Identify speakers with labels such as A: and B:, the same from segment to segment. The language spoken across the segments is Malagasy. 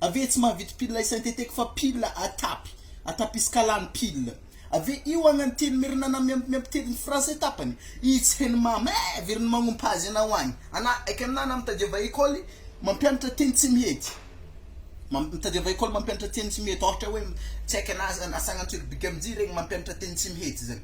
A: Ave tsy mahavita pile synthetic fa pile à tapy, à tapiskalany pile. Ave io agna ny teny merinana miampy miampy teny ny français tapany, ii tsy heno mama eh very ny magnompa azy anao agny. Ana aika ana na mitadiava école mampianatra teny tsy mihety, mam mitadiava école mampianatra teny tsy mihety ôhatra hoe tsy aika ana aza asagna antsiribigy amijia regny mampianatra teny tsy mihety zany.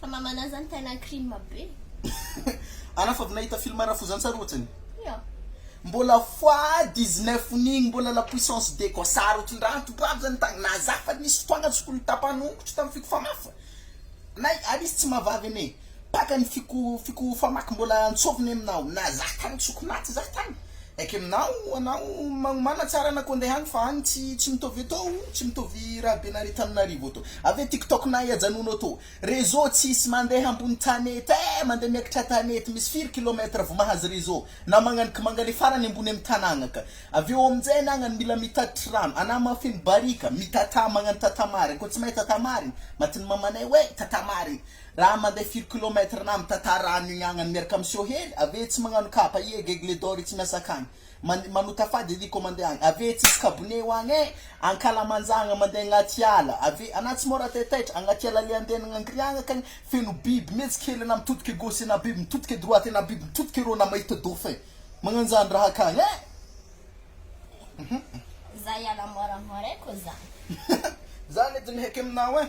B: Fa mamanà zany tena crime be.
A: Anà fa avy nahita film rafozantsary ohatrany? Ia.
B: Mbola
A: fois 19 nigny mbola la puissance de quoi sary ohatrindraha antobravo zany tagny nazy hafa nisy fotoagna tsy tokony tapahana ongotro tam fiko famafa nay ary izy tsy mahavavy ane pakany fiko fiko famaky mbola antsoviny aminao naza tagny tsy tokony naty za tagny Ekenao anao magnomana tsara anako andeha any fa any tsy tsy mitovy eto o, tsy mitovy raha be nare taminarivo eto. Avy eo tiktok nahay ajanona eto. Réseau tsisy mandeha ambony tanety eh, mandeha miakatra tanety, misy firy kilomètre vao mahazo réseau, na magnany ka mangany farany ambony amy tanagna ka. Avy eo aminjay anagnany mila mitatitry rano, ana mahafeno barika, mitata magnano tata marigny, ko tsy mahay tata marigny, matiny mamanay hoe tata marigny, Raha mandeha firy kilomètre na mitantara rano igny agnany miaraka am seho hely avy eo tsy magnano kapa ie ggle dor i tsy miasa akagny man manota fady edy ko mandeha agny avy eo tsisy kabone ho agny eh ankalamanjagna mandeha agnaty ala avy eo ana tsy mora taitaitra agnaty ala le andeha agny angriagna akagny feno biby mihetsika hely ana mitodika gauche ena biby mitodika droite ena biby mitodika eroa ana mahita dauphin magnanjany raha akagny eh
B: Zay ala
A: moramora eh
B: ko
A: zany.
B: Zany edy ny heky
A: aminao eh.